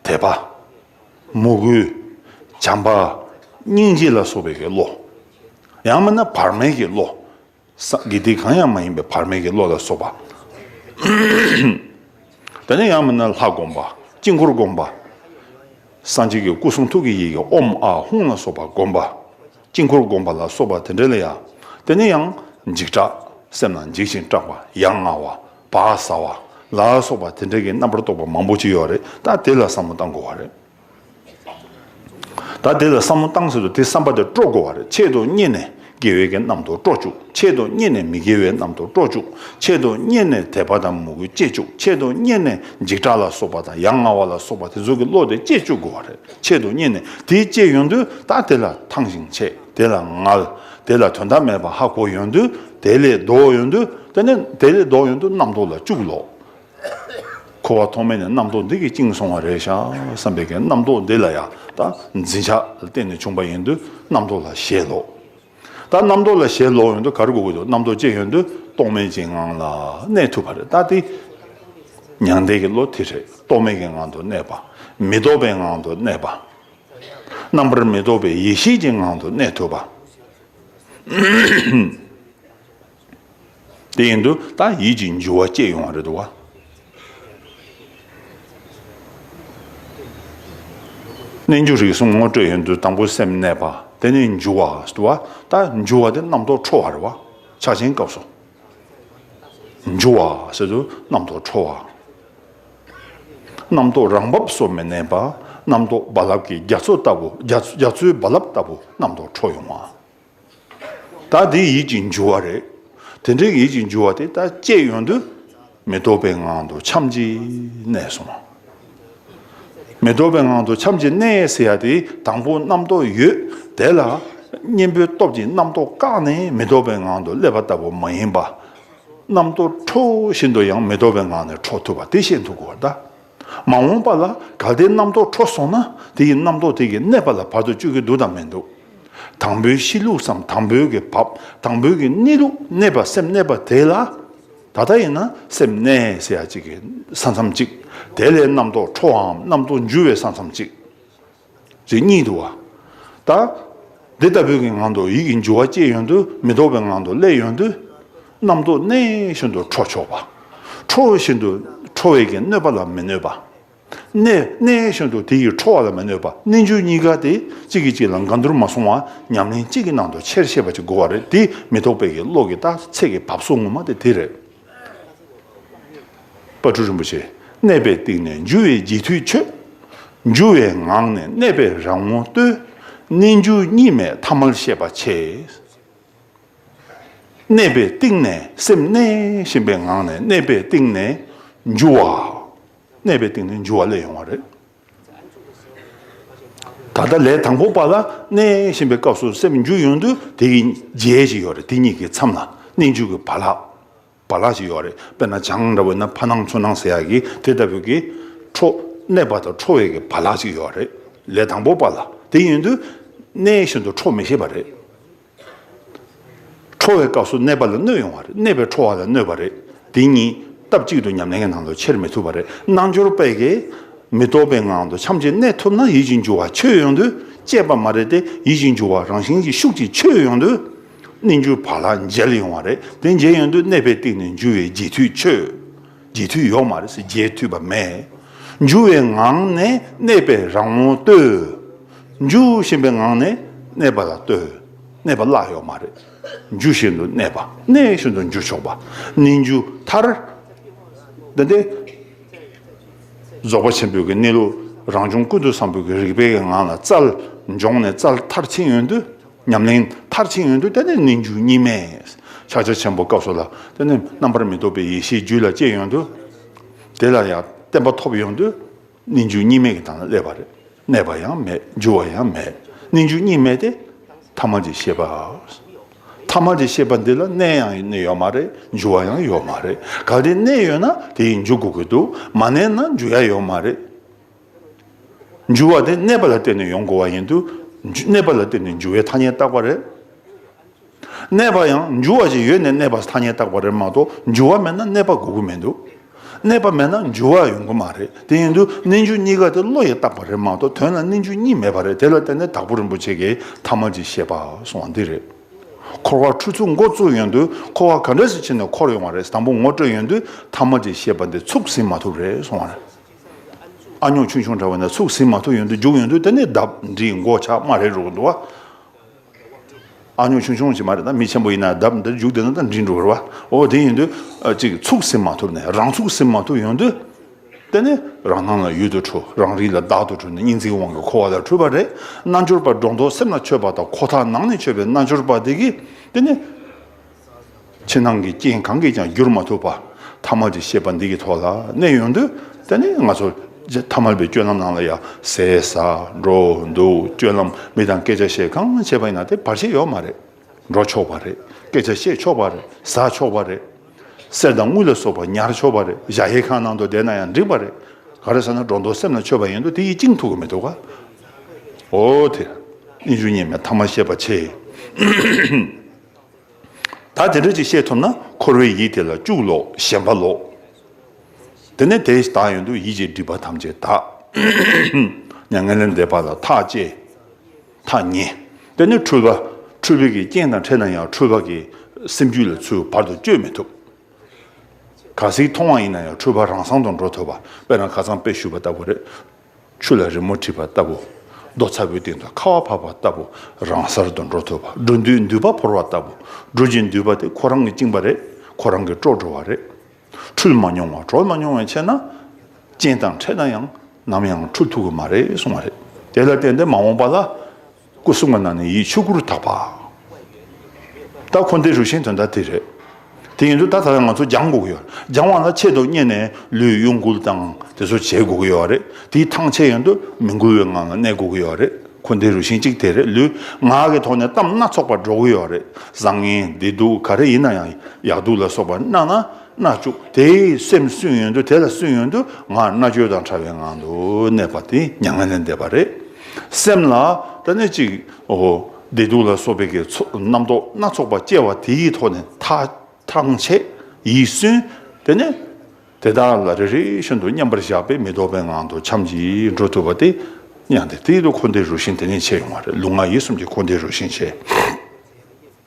དད་པ། མོས་གུས། བྱམས་པ། སྙིང་རྗེ་ལ་སོགས་པའི་གི་བློ། ཡང་མིན་ན་བར་མའི་གི་བློ། སངས་རྒྱས་དེ་གང་ཡང་མ་ཡིན་པའི་བར་མེད་ཀྱི་བློ་ལ་སོགས་པ། དེ་ནས་ཡང་མིན་ན་ལྷ་བསྒོམ་པ། དཀྱིལ་འཁོར་བསྒོམ་པ། སངས་རྒྱས་ཀྱི་སྐུ་གསུང་ཐུགས་ཀྱི་ཡི་གེ་ཨོམ་ཨ་ཧུང་ལ་སོགས་པ་བསྒོམ་པ། དཀྱིལ་འཁོར་བསྒོམ་པ་ལ་སོགས་པ་དེ་འདྲ་ལ་ཡང། དེ་ནས་ཡང། འཇིགས་སྐྲག། སེམས་ལ་འཇིགས་ཤིང་སྐྲག་པ། ཡ་ང་བ། བག་ཟ་བ། ལ་སོགས་པ་དེ་འདྲ་གྱི་རྣམ་པར་རྟོག་པ་མང་པོ་ཅི་ཡོད་རེད་ད་དེ་ལ་བསམ་བློ་བཏང་དགོས་བ་རེད། ད་དེ་ལ་བསམ་བློ་བཏང་ཟེར་དུ་དེ་བསམ་པ་དེ་སྤྲོ་དགོས་བ་རེད་ཆེད་དུ་རྙེད་ནས་དགེ་བའི་གནམ་མཐོ་སྤྲོ་བཅུག་ཆེད་དུ་རྙེད་ནས་མི་དགེ་བའི་གནམ་མཐོ་སྤྲོ་བཅུག་ཆེད་དུ་རྙེད་ནས་དད་པ་དང་མོས་གུས་བསྐྱེད་བཅུག་ཆེད་དུ་རྙེད་ནས་འཇིགས་སྐྲག་ལ་སོགས་པ་དང་ཡ་ང་བ་ལ་སོགས་པ་དེ་ཚོ་གི་བློ་དེ་བསྐྱེད་བཅུག་དགོས་བ་རེད་ཆེད་དུ་རྙེད་ནས་དེ་བསྐྱེད་ཡོང་དུས་ད་དེ་ལ་ཐང་ཞིང་ཆད་དེ་ལ་ངལ་དེ་ལ་དོན་དག་མེད་པ་ཧ་གོ་ཡོང་དུས་དེ་ལས་ལྡོག་ཡོང་དུས་དེ་ནས་དེ་ལས་ལྡོག་ཡོང་དུས་གནམ་མཐོ་ལ་བཅུག་ལོ་འཁོར་བ་ཐོག་མེད་ནས་རྣམ་རྟོག་འདི་གིས་བཅིངས་སོང་བ་རེད་ཤག་བསམ་པའི་གན་རྣམ་རྟོག་འདི་ལ་ཡང་ད་འཛིན་ཆགས་ལ་བརྟེན་ནས་བྱུང་པ་ཡིན་དུས་རྣམ་རྟོག་ལ་ཞེད་ལོག་ད་རྣམ་རྟོག་ལ་ཞེད་ལོག་ཡོང་དུས་ག་རེ་དགོས་ཀྱི་འདུག་རྣམ་རྟོག་ཅན་ཡོང་དུས་རྟོག་མེད་ཅན་ངང་ལ་གནས་ཐུབ་པ་རེད་ད་དེ་མྱང་འདས་ཀྱི་བློ་དེ་རེད་རྟོག་མེད་ཀྱི་ངང་དུ་གནས་པ་མི་རྟོག་པའི་ངང་དུ་གནས་པ་རྣམ་པར་མི་རྟོག་པའི་ཡེ་ཤེས་ཀྱི་ངང་དུ་གནས་ཐུབ་པ། དེ་ཡིན་དུ་ད་ཡིད་ཀྱི་འགྱུ་བ་སྐྱེས་ཡོང་བ་རེད་དོ། གནས་འགྱུ་རིགས་གསུམ་ངོ་སྤྲོད་ཡིན་དུ་དང་པོ་སེམས་གནས་པ་དེ་ནི་འགྱུ་བ་ཟེར་བ་ད་འགྱུ་བ་དེ་རྣམ་རྟོག་འཕྲོ་བ་རེད་བ་ཕྱག་ཆེན་སྐབས་སོ། འགྱུ་བ་ཟེར་དུ་རྣམ་རྟོག་འཕྲོ་བ། རྣམ་རྟོག་རང་བབས་སོ་མི་གནས་པ་རྣམ་རྟོག་རྦ་རླབས་ཀྱི་རྒྱ་མཚོ་ལྟ་བུ་རྒྱ་མཚོའི་རྦ་རླབས་ལྟ་བུ་རྣམ་རྟོག་འཕྲོ་ཡོང་བ། ད་དེ་ཡིད་ཀྱི་འགྱུ་བ་རེད། དེ་འདྲའི་ཡིད་ཀྱི་འགྱུ་བ་དེ་ད་ཅད་ཡོང་དུས་མི་རྟོག་པའི་ངང་དུ་ཁྱམས་ཀྱི་གནས་སོང། མི་རྟོག་པའི་ངང་དུ་ཁྱམས་ཀྱི་གནས་ཟེར་ཡ་དེ་དང་པོ་རྣམ་རྟོག་ཡོད་དེ་ལ་གཉེན་པོའི་སྟོབས་ཀྱིས་རྣམ་རྟོག་བཀག་ནས་མི་རྟོག་པའི་ངང་དུ་སླེབས་པ་ལྟ་བུ་མ་ཡིན་པ། རྣམ་རྟོག་འཕྲོ་བཞིན་དུ་ཡང་མི་རྟོག་པའི་ངང་ནས་འཕྲོ་ཐུབ་པ་དེ་ཤེས་འདུག་གོ་ད། མ་འོངས་པ་ལ་གལ་ཏེ་རྣམ་རྟོག་འཕྲོ་སོང་ན་དེ་ཡི་རྣམ་རྟོག་དེ་གིས་གནས་པ་ལ་བར་དུ་གཅོད་ཀྱི་འདུག་དང་མི་འདུག། དང་པོའི་གཤིས་ལུགས་སམ་དང་པོའི་གི་བབ་དང་པོའི་གི་གནས་ལུགས་གནས་པ་སེམས་གནས་པ་དེ་ལ། ད་ལྟ་ཡིན་ན་སེམས་གནས་ཟེར་ཡ་གཅིག་གི་ས་མཚམས་གཅིག་དེ་ལས་རྣམ་རྟོག་འཕྲོ་བའམ་རྣམ་རྟོག་འཇུ་བའི་ས་མཚམས་གཅིག། ཅིག་གཉིད་དུ་བ། ལྟ། འདི་ལྟ་བུའི་ངང་དུ་ཡིད་ཀྱི་འགྱུ་བ་སྐྱེས་ཡོང་དུས་མི་ལྡོག་པའི་ངང་དུ་སླེབས་ཡོང་དུས། རྣམ་རྟོག་གནས་བཞིན་དུ་འཕྲོ་ཆོག་པ། འཕྲོ་བཞིན་དུ་འཕྲོ་བས་ཀྱི་གནོད་པ་ལ་མི་གནོད་པ། གནས་གནས་བཞིན་དུ་དེ་ཡིས་འཕྲོ་བ་ལ་མི་གནོད་པ་རྣལ་འབྱོར་གཉིས་ཀ་དེ་གཅིག་གིས་གཅིག་ལ་འགལ་འདུར་མ་སོང་བ་ཉམས་ལེན་གཅིག་གི་ནང་དུ་ཆེར་ཤེས་པ་ཅིག་དགོས་བ་རེད་དེ་མི་རྟོག་པའི་ཀྱི་བློ་ཀྱི་རྟགས་ཚད་ཀྱི་བབས་སོ་ངོ་མ་དེ་དེ་རེད། པ་སྤྲུལ་རིན་པོ་ཆེ་གནས་པའི་སྟེང་ནས་འཇུ་བའི་རྗེས་མཐུད་མཆོད། འཇུ་བའི་ངང་ནས་གནས་པའི་རང་ངོ་བསྟོད། རྣལ་འབྱོར་གཉིས་མེད་ཐ་མལ་ཤེས་པ་ཆེ། གནས་པའི་སྟེང་ནས་སེམས་གནས་བཞིན་པའི་ངང་ནས་གནས་པའི་སྟེང་ནས་འཇུ་བ། གནས་པའི་སྟེང་ནས་འཇུ་བ་ལས་ཡོང་བ་རེད། ད་ལྟ་ལས་དང་པོ་པ་ལ་གནས་བཞིན་པའི་སྐབས་སུ་སེམས་འཇུག་ཡོང་དུས་དེ་གི་རྗེས་ཞིག་ཡོད་རེད་དེ་གཉིས་ཀྱི་མཚམས་ལ་གནས་འཇུག་གི་བ་ལག་བ་ལག་ཞིག་ཡོད་རེད་དཔེར་ན་བྱང་འདྲ་བོ་ན་ཕ་ནང་མཚོ་ནང་ཟེར་ཡག་གི་དེ་ལྟ་བུ་གི། ཁྲོ། གནས་པ་དང་ཁྲོ་བའི་གི་བ་ལག་ཅིག་ཡོད་རེད་ལས་དང་པོ་པ་ལ་དེ་ཡོང་དུས་གནས་བཞིན་དུ་ཁྲོ་མི་ཤེས་པ་རེད། ཁྲོ་བའི་སྐབས་སུ་གནས་པ་ལ་གནོད་ཡོང་བ་རེད་གནས་པའི་ཁྲོ་བ་ལ་གནོད་པ་རེད་འདི་གཉིས་སྟབས་གཅིག་ཏུ་ཉམས་ལེན་གྱི་ནང་དུ་འཁྱེར་མི་ཐུབ་པ་རེད་རྣལ་འབྱོར་པས་ཀྱི་མི་རྟོག་པའི་ངང་དུ་ཕྱམ་གཅིག་གནས་ཐུབ་ན་ཡིད་ཀྱི་འགྱུ་བ་ཆོས་ཡོང་དུས་སྐྱེས་པ་མ་རེད་དེ་ཡིད་ཀྱི་འགྱུ་བ་རང་བཞིན་གྱི་ཤུགས་ཀྱིས་ཆོས་ཡོང་དུས་གནས་འགྱུ་བ་ལ་འཇལ་ཡོང་བ་རེད་དེ་འཇལ་ཡོང་དུས་གནས་པའི་སྟེང་ནས་འགྱུ་བའི་རྗེས་མཐུད་ཆོས། རྗེས་མཐུད་ཡོག་མ་རེད་ཟེར་རྗེས་མཐུད་པ་མེད། འཇུ་བའི་ངང་ནས་གནས་པས་རང་ངོ་ལྟོས། འཇུ་བཞིན་པའི་ངང་ནས་གནས་པ་ལ་ལྟོས། གནས་པ་བརླག་ཡོག་མ་རེད། འཇུ་བཞིན་དུ་གནས་པ་གནས་བཞིན་དུ་འཇུ་ཆོག་པ་ནི་འཇུ་ཐར། འདི་སྟེ། རྫོགས་པ་ཆེན་པོའི་གི་གནས་ལུགས་རང་བྱུང་ཀུན་ཏུ་བཟང་པོའི་གི་རིག་པའི་གི་ངང་ལ་རྩལ་འབྱོངས་ནས་རྩལ་མཐར་ཕྱིན་ཡོན་དུ། ཉམས་ལེན་མཐར་ཕྱིན་ཡོན་དུ་བསྟན་ནས་ནི་འཇུག་གཉིས་མེད་ཕྱག་རྒྱ་ཆེན་པོ་སྐབས་སུ་ལ་བསྟན་ནས་རྣམ་པར་མི་རྟོག་པའི་ཡེ་ཤེས་རྒྱུད་ལ་སྐྱེས་ཡོན་དུ། དེ་ལ་ཡང་བསྟན་པ་ཐོབ་ཡོན་དུ་ནི་འཇུག་གཉིས་མེད་ཀྱི་དང་ལ་སླེབ་པར་གནས་པ་ཡང་མེད་འགྱུར་བ་ཡང་མེད་ནི་འཇུག་གཉིས་མེད་དེ། ཐ་མ་འདི་ཤེས་པ། ཐ་མ་འདི་ཤེས་པ་འདི་ལ་གནས་ཡང་གནས་ཡོད་མ་རེད་འགྱུར་བ་ཡང་ཡོད་མ་རེད་གལ་ཏེ་གནས་ཡོད་ན་དེ་ཡིས་འཇུག་གོ་དགོས་འདུག་མ་གནས་ན་འགྱུར་ཡ་ཡོད་མ་རེད། འཇུ་བ་དེ་གནས་པ་ལ་བརྟེན་ནས་ཡོང་དགོས་བ་ཡིན་དུས། གནས་པ་ལ་བརྟེན་ནས་འཇུ་བའི་ཐ་སྙད་བཏགས་པ་རེད། གནས་པ་ཡང་འཇུ་བ་ཞིག་ཡོད་ནས་གནས་པ་ཐ་སྙད་བཏགས་པ་རེད་མ་གཏོགས་འཇུ་བ་མེད་ན་གནས་པ་དགོས་དགོས་མི་འདུག་གནས་པ་མེད་ན་འཇུ་བ་ཡོང་དགོས་མ་རེད་དེ་ཡིན་དུས་གནས་འཇུ་གཉིས་ཀ་དེ་བློ་ཡིས་བཏགས་པ་རེད་མ་གཏོགས་དོན་ལ་གནས་འཇུ་གཉིས་མེད་པ་རེད་དེ་ལ་བརྟེན་ནས་དྭགས་པོ་རིན་པོ་ཆེ་གིས་ཐ་མ་ཅིག་བཤད་པ་སོང་བ་འདི་རེད། འཁོར་བ་འཁྲུལ་ཚུགས་མགོ་བཙུགས་ཡོང་དུས་འཁོར་བ་ག་འདྲ་ཞིག་ཕྱིན་ནས་འཁོར་ཡོང་བ་རེད་དང་པོ་ངོ་སྤྲོད་ཡོང་དུས་ཐ་མ་ཅིག་བཤད་པ་འདི་ཚུགས་ཟིན་མ་ཐུབ་རེད་སོང་བ་རེད། ཨ་ཉོག་ཆུང་ཆུང་འདྲ་བ་ནས་ཚུགས་ཟིན་མ་ཐུབ་ཡོང་དུ་རྒྱུགས་ཡོང་དུས་དེ་ནི་ལྡབ་འདྲིས་མགོ་ཆག་མ་རེད་འགྲོ་གི་འདུག་ཨ། ཨ་ཉོག་ཆུང་ཆུང་ཞིག་མ་རེད་ད་མི་ཆེན་པོ་ཡིན་ན་ལྡབ་འདྲིས་རྒྱུགས་དེ་ནི་ལྡབ་འདྲིས་འགྲོ་གི་རེད་འོ་དེ་ཡིན་དུས་གཅིག་ཚུགས་ཟིན་མ་ཐུབ་ནས་རང་ཚུགས་ཟིན་མ་ཐུབ་ཡོང་དུས་དེ་ནི་རང་སྣང་ལ་ཡུལ་དུ་འཁྲུལ་རང་རིག་ལ་བདག་ཏུ་འཁྲུལ་ནས་སྙིང་ཚིག་དབང་གིས་འཁོར་བ་ལ་འཁྲུལ་པ་རེད་རྣལ་འབྱོར་པ་སྒྲོ་འདོགས་སེམས་ལ་ཆོད་པ་དང་ཁོ་ཐག་ནང་ནས་ཆོད་པའི་རྣལ་འབྱོར་པ་དེ་གིས་དེ་ནི། ཕྱི་ནང་གི་རྐྱེན་གང་གིས་ཀྱང་བསྒྱུར་མ་ཐུབ་པ་ཐ་མལ་གྱི་ཤེས་པ་འདི་གི་ཐོག་ལ་གནས་ཡོང་དུས་དེ་ནི་ང་ཚོ་ཐ་མལ་པའི་སྤྱོད་ལམ་ནང་ལ་ཡང་ཟས་ཟ་འགྲོ་འདུག་སྤྱོད་ལམ་མི་དང་སྐད་ཆ་བཤད་གང་བྱེད་པ་ཡིན་ན་དེ་བར་ཆད་ཡོད་མ་རེད། འགྲོ་ཆོག་པ་རེད་སྐད་ཆ་བཤད་ཆོག་པ་རེད་ཟ་ཆོག་པ་རེད། གསེར་དང་དངུལ་ལ་སོགས་པ་ཉར་ཆོག་པ་རེད་གཞའ་ཧེ་ཁང་ནང་དུ་བསྡད་ན་ཡང་འགྲིག་པ་རེད། ག་རེ་ཟེར་ན་སྒྲོ་འདོགས་སེམས་ལ་ཆོད་པ་ཡིན་དུས་དེ་ཡིས་བཅིངས་ཐུབ་ཀྱི་མི་འདུག་ག། འོ་དེ། གཉིས་ཆུང་གཉིས་མེད་ཐ་མ་ཤེས་པ་ཆེ། ད་དེ་འདྲ་ཅིག་བཤད་ཐུབ་ན་འཁོར་བའི་ཡིད་དེ་ལ་སྐྱུག་ལོག་ཞེན་པ་ལོག། དེ་ནས་དེ་དག་ཡོན་དུ་ཡིད་ཀྱི་སྒྲིབ་པ་ཐམས་ཅད་དག། མྱ་ངན་ལས་འདས་པ་ལ་ཐག་བཅད། ཐག་ཉེ། དེ་ནས་འཁྲུལ་པ་འཁྲུལ་བའི་གི་རྐྱེན་དང་ཕྲད་ན་ཡང་འཁྲུལ་པ་གི་སེམས་རྒྱུད་ལ་ཚུལ་བར་དུ་བཅོས་མི་ཐུབ། ག་ཟིག་མཐོང་བ་ཡིན་ན་ཡང་འཁྲུལ་པ་རང་སང་དུ་འགྲོ་ཐུབ་པ་དཔེར་ན་ཁ་ཚང་དཔེ་བཤུས་པ་ལྟ་བུ་རེད། ཆུ་ལ་རི་མོ་བྲིས་པ་ལྟ་བུ། རྡོ་ཚ་བོའི་སྟེང་དུ་ཁ་བ་བབས་པ་ལྟ་བུ་རང་སར་དུ་འགྲོ་ཐུབ་པ་འགྲོ་འདུས་མདུད་པ་བོར་བ་ལྟ་བུ་འགྲོ་ཅིང་འདུས་པ་དེ་ཁོ་རང་གིས་བཅིངས་པ་རེད་ཁོ་རང་གིས་དཀྲོགས་འགྲོ་བ་རེད། འཁྲུལ་མ་མྱོང་བ་གྲོལ་མ་མྱོང་བའི་ཕྱིར་ན། རྐྱེན་དང་འཕྲད་ན་ཡང་ནམ་ཡང་འཁྲུལ་ཐུབ་ཀྱི་མ་རེད་གསུངས་བ་རེད། དེ་ལ་བརྟེན་ཏེ་མ་འོངས་པ་ལ། སྐུ་གསུམ་ག་ནང་ནས་ཡིད་ཆོས་ཀུན་རུ་དག་པ། ད་འཁོར་འདས་རུ་ཤན་དོན་དག་དེ་རེད། དེ་ཡིན་དུས་ད་ད་ཡང་ང་ཚོ་སྦྱང་དགོས་ཀྱི་ཡོད། སྦྱང་བ་ལ་ཆེད་དུ་བསྙེན་ནས་ལུས་གཡོ་འགུལ་དང་དེ་ཚོ་བྱེད་དགོས་ཀྱི་ཡོད་རེད། དེའི་ཐང་ཆད་ཡོང་དུས་མི་འགུལ་བའི་ངང་ལ་གནས་དགོས་ཀྱི་ཡོད་རེད། འཁོར་འདས་རུ་ཤན་གཅིག་དེ་རེད་ལུས་ངག་གི་ཐོག་ནས་གཏམ་སྣ་ཚོགས་པ་སྒྲོག་གི་ཡོད་རེད། བཟང་ངན་བདེ་སྡུག་ག་རེ་ཡིན་ན་ཡང་ཡག་སྡུག་ལ་སོགས་པ་སྣ་ན་སྣ་བཅུག་དེ་སེམས་བསྲུན་ཡོང་དུས་དེ་ལ་བསྲུན་ཡོང་དུས་ངག་སྣ་བཅོས་དང་ཕྲ་བའི་ངང་དུ་གནས་པ་དེ་མྱ་ངན་ལས་འདས་པ་རེད། སེམས་ལ་ཏཱ་ནི་གཅིག་འོ། བདེ་སྡུག་ལ་སོགས་པའི་རྣམ་རྟོག་སྣ་ཚོགས་པ་སྐྱེ་བ་དེ་ཡི་ཐོག་ནས་ཐ་ཐང་ཆད་ཡིད་སུན་དེ་ནས་དེ་དག་ལ་རེ་རེ་བཞིན་དུ་མཉམ་པར་བཞག་པས་མི་ལྡོག་པའི་ངང་དུ་འཁྱམས་ཀྱིས་འགྲོ་ཐུབ་པ་སྟེ། མྱང་འདས་དེ་ཡི་ལུགས་འཁོར་འདས་རུ་ཤན་དེ་ནས་ཕྱེ་ཡོང་བ་རེད་ལུགས་ང་ཡི་གསུམ་གྱི་འཁོར་འདས་རུ་ཤན་ཕྱེ།